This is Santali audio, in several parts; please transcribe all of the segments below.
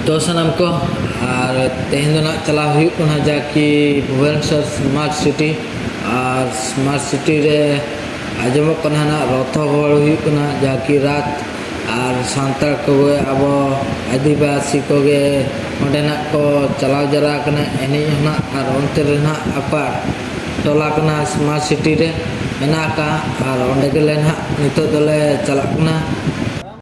ᱛᱚ ᱥᱟᱱᱟᱢ ᱠᱚ ᱟᱨ ᱛᱮᱦᱮᱧ ᱫᱚ ᱱᱟᱜ ᱪᱟᱞᱟᱣ ᱦᱩᱭᱩᱜ ᱠᱟᱱᱟ ᱡᱟᱠᱤ ᱵᱷᱩᱵᱚᱱᱮᱥᱚᱨ ᱥᱢᱟᱨᱴ ᱥᱤᱴᱤ ᱟᱨ ᱥᱢᱟᱨᱴ ᱥᱤᱴᱤ ᱨᱮ ᱟᱸᱡᱚᱢᱚᱜ ᱠᱟᱱᱟ ᱱᱟᱜ ᱨᱚᱛᱷ ᱦᱚᱸ ᱜᱚᱦᱚᱲ ᱦᱩᱭᱩᱜ ᱠᱟᱱᱟ ᱡᱟᱠᱤ ᱨᱟᱛ ᱟᱨ ᱥᱟᱱᱛᱟᱲ ᱠᱚᱜᱮ ᱟᱵᱚ ᱟᱹᱫᱤᱵᱟᱹᱥᱤ ᱠᱚᱜᱮ ᱚᱸᱰᱮ ᱱᱟᱜ ᱠᱚ ᱪᱟᱞᱟᱣ ᱡᱟᱣᱨᱟ ᱟᱠᱟᱱᱟ ᱮᱱᱮᱡ ᱦᱚᱸ ᱱᱟᱜ ᱟᱨ ᱚᱱᱛᱮ ᱨᱮ ᱱᱟᱜ ᱟᱠᱚᱣᱟᱜ ᱴᱚᱞᱟ ᱠᱟᱱᱟ ᱥᱢᱟᱨᱴ ᱥᱤᱴᱤ ᱨᱮ ᱢᱮᱱᱟᱜ ᱟᱠᱟᱫᱼᱟ ᱟᱨ ᱚᱸᱰᱮ ᱜᱮᱞᱮ ᱱᱟᱜ ᱱᱤᱛᱚᱜ ᱫᱚᱞᱮ ᱪᱟᱞᱟᱜ ᱠᱟᱱᱟ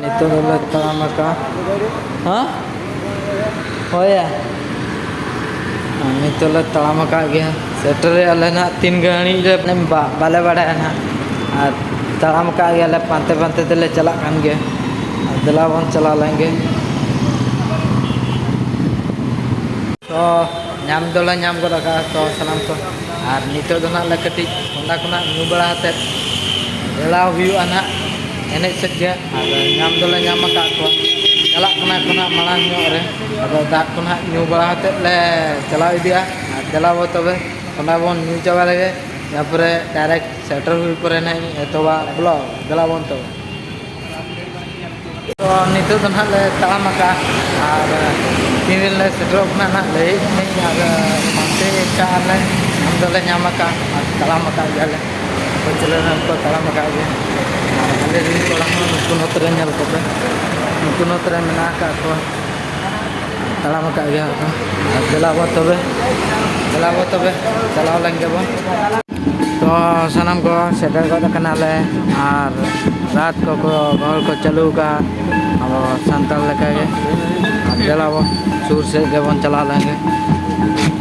ᱱᱤᱛᱚᱜ ᱫᱚᱞᱮ ᱛᱟᱲᱟᱢ ᱟᱠᱟᱜᱼᱟ ᱦᱮᱸ ᱦᱳᱭᱭᱟ ᱱᱤᱛᱚᱜ ᱞᱮ ᱛᱟᱲᱟᱢ ᱟᱠᱟᱫ ᱜᱮᱭᱟ ᱥᱮᱴᱮᱨᱮᱜᱼᱟ ᱞᱮ ᱱᱟᱦᱟᱜ ᱛᱤᱱ ᱜᱷᱟᱹᱲᱤᱡ ᱨᱮ ᱵᱟᱞᱮ ᱵᱟᱲᱟᱭᱟ ᱱᱟᱦᱟᱜ ᱟᱨ ᱛᱟᱲᱟᱢ ᱟᱠᱟᱫ ᱜᱮᱭᱟᱞᱮ ᱯᱟᱱᱛᱮ ᱯᱟᱱᱛᱮ ᱛᱮᱞᱮ ᱪᱟᱞᱟᱜ ᱠᱟᱱ ᱜᱮᱭᱟ ᱫᱮᱞᱟ ᱵᱚᱱ ᱪᱟᱞᱟᱣ ᱞᱮᱱ ᱜᱮ ᱛᱚ ᱧᱟᱢ ᱫᱚᱞᱮ ᱧᱟᱢ ᱜᱚᱫ ᱟᱠᱟᱫᱼᱟ ᱛᱚ ᱥᱟᱱᱟᱢ ᱠᱚ ᱟᱨ ᱱᱤᱛᱚᱜ ᱫᱚ ᱱᱟᱦᱟᱜ ᱞᱮ ᱠᱟᱹᱴᱤᱡ ᱚᱱᱟ ᱠᱷᱚᱱᱟᱜ ᱧᱩ ᱵᱟᱲᱟ ᱠᱟᱛᱮᱫ ᱮᱲᱟᱣ ᱦᱩᱭᱩᱜᱼᱟ ᱱᱟᱦᱟᱜ ᱮᱱᱮᱡ ᱥᱮᱫ ᱜᱮ ᱟᱨ ᱧᱟᱢ ᱫᱚᱞᱮ ᱧᱟᱢ ᱟᱠᱟᱫ ᱠᱚᱣᱟ ᱪᱟᱞᱟᱜ ᱠᱟᱱᱟ ᱠᱚ ᱱᱟᱦᱟᱜ ᱢᱟᱲᱟᱝ ᱧᱚᱜ ᱨᱮ ᱟᱫᱚ ᱫᱟᱜ ᱠᱚ ᱱᱟᱦᱟᱜ ᱧᱩ ᱵᱟᱲᱟ ᱠᱟᱛᱮᱫ ᱞᱮ ᱪᱟᱞᱟᱣ ᱤᱫᱤᱜᱼᱟ ᱟᱨ ᱫᱮᱞᱟ ᱵᱚ ᱛᱚᱵᱮ ᱚᱱᱟ ᱵᱚᱱ ᱧᱩ ᱪᱟᱵᱟ ᱞᱮᱜᱮ ᱛᱟᱨᱯᱚᱨᱮ ᱰᱟᱭᱨᱮᱠᱴ ᱥᱮᱴᱮᱨ ᱦᱩᱭ ᱯᱚᱨᱮ ᱱᱟᱦᱟᱜ ᱤᱧ ᱮᱛᱚᱦᱚᱵᱟ ᱵᱞᱚᱜᱽ ᱫᱮᱞᱟ ᱵᱚᱱ ᱛᱚᱵᱮ ᱛᱚ ᱱᱤᱛᱚᱜ ᱫᱚ ᱱᱟᱦᱟᱜ ᱞᱮ ᱛᱟᱲᱟᱢ ᱟᱠᱟᱫᱼᱟ ᱟᱨ ᱛᱤᱱ ᱨᱮ ᱞᱮ ᱥᱮᱴᱮᱨᱚᱜ ᱠᱟᱱᱟ ᱱᱟᱦᱟᱜ ᱞᱟᱹᱭᱮᱫ ᱠᱟᱹᱱᱟᱹᱧ ᱟᱨ ᱯᱟᱱᱛᱮ ᱟᱠᱟᱫᱼᱟ ᱞᱮ ᱧᱟᱢ ᱫᱚᱞᱮ ᱧᱟᱢ ᱟᱠᱟᱫᱼᱟ ᱟᱨ ᱛᱟᱲᱟᱢ ᱟᱠᱟᱫ ᱜᱮᱭᱟ ᱞᱮ ᱯᱟᱹᱪᱞᱟᱹ ᱨᱮᱱᱟᱜ ᱠᱚ ᱛᱟᱲᱟᱢ ᱟᱠᱟᱫ ᱜᱮᱭᱟ ᱟᱨ ᱟᱞᱮ ᱨᱮᱱ ᱠᱚᱲᱟ ᱦᱚᱸ ᱱᱩᱠᱩ ᱱᱚᱛᱮ ᱨᱮ ᱧᱮᱞ ᱠᱚᱯᱮ ᱱᱩᱠᱩ ᱱᱚᱛᱮ ᱨᱮ ᱢᱮᱱᱟᱜ ᱟᱠᱟᱫ ᱠᱚᱣᱟ ᱛᱟᱲᱟᱢ ᱟᱠᱟᱫ ᱜᱮᱭᱟ ᱠᱚ ᱟᱨ ᱫᱮᱞᱟ ᱵᱚ ᱛᱚᱵᱮ ᱫᱮᱞᱟ ᱵᱚ ᱛᱚᱵᱮ ᱪᱟᱞᱟᱣ ᱞᱮᱱ ᱜᱮᱵᱚᱱ ᱛᱚ ᱥᱟᱱᱟᱢ ᱠᱚ ᱥᱮᱴᱮᱨ ᱜᱚᱫ ᱟᱠᱟᱱᱟᱞᱮ ᱟᱨ ᱨᱟᱛ ᱠᱚᱠᱚ ᱦᱚᱲ ᱠᱚ ᱪᱟᱹᱞᱩ ᱟᱠᱟᱫᱼᱟ ᱟᱵᱚ ᱥᱟᱱᱛᱟᱲ ᱞᱮᱠᱟᱜᱮ ᱟᱨ ᱫᱮᱞᱟ ᱵᱚ ᱥᱩᱨ ᱥᱮᱫ ᱜᱮᱵᱚᱱ ᱪᱟᱞᱟᱣ ᱞᱮᱱᱜᱮ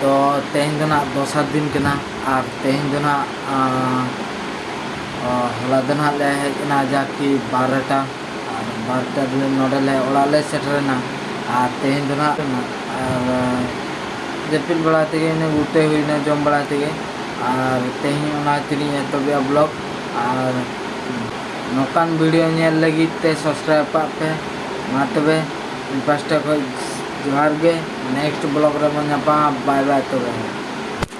ᱛᱚ ᱛᱮᱦᱮᱧ ᱫᱚ ᱱᱟᱜ ᱫᱚᱥᱟᱨ ᱫᱤᱱ ᱠᱟᱱᱟ ᱟᱨ ᱛᱮᱦᱮᱧ ᱫᱚ ᱱᱟᱜ ᱦᱚᱞᱟ ᱫᱚ ᱱᱟᱜ ᱞᱮ ᱦᱮᱡ ᱮᱱᱟ ᱡᱟᱠᱤ ᱵᱟᱨᱚᱴᱟ ᱟᱨ ᱵᱟᱨᱚᱴᱟ ᱨᱮ ᱱᱚᱰᱮ ᱞᱮ ᱚᱲᱟᱜ ᱞᱮ ᱥᱮᱴᱮᱨᱮᱱᱟ ᱟᱨ ᱛᱮᱦᱮᱧ ᱫᱚ ᱱᱟᱜ ᱟᱨ ᱡᱟᱹᱯᱤᱫ ᱵᱟᱲᱟ ᱛᱮᱜᱮ ᱤᱱᱟᱹ ᱜᱩᱴᱟᱹ ᱦᱩᱭᱱᱟ ᱡᱚᱢ ᱵᱟᱲᱟ ᱛᱮᱜᱮ ᱟᱨ ᱛᱮᱦᱮᱧ ᱚᱱᱟ ᱠᱷᱟᱹᱛᱤᱨ ᱤᱧ ᱮᱛᱚᱦᱚᱵᱮᱜᱼᱟ ᱵᱞᱚᱜ ᱟᱨ ᱱᱚᱝᱠᱟᱱ ᱵᱷᱤᱰᱤᱭᱳ ᱧᱮᱞ ᱞᱟᱹᱜᱤᱫ ᱛᱮ ᱥᱟᱵᱥᱠᱨᱟᱭᱤᱵᱽ ᱠᱟᱜ ᱯᱮ ᱢᱟ ᱛᱚᱵᱮ ᱤᱧ ᱯᱟᱥᱴᱟ ᱠᱷᱚᱱ ᱡᱚᱦᱟᱨ ᱜᱮ ᱱᱮᱠᱥᱴ ᱵᱞᱚᱜ ᱨᱮᱵᱚᱱ ᱧᱟᱯᱟᱢᱟ ᱵᱟᱭ ᱵᱟᱭ ᱛᱚᱵᱮ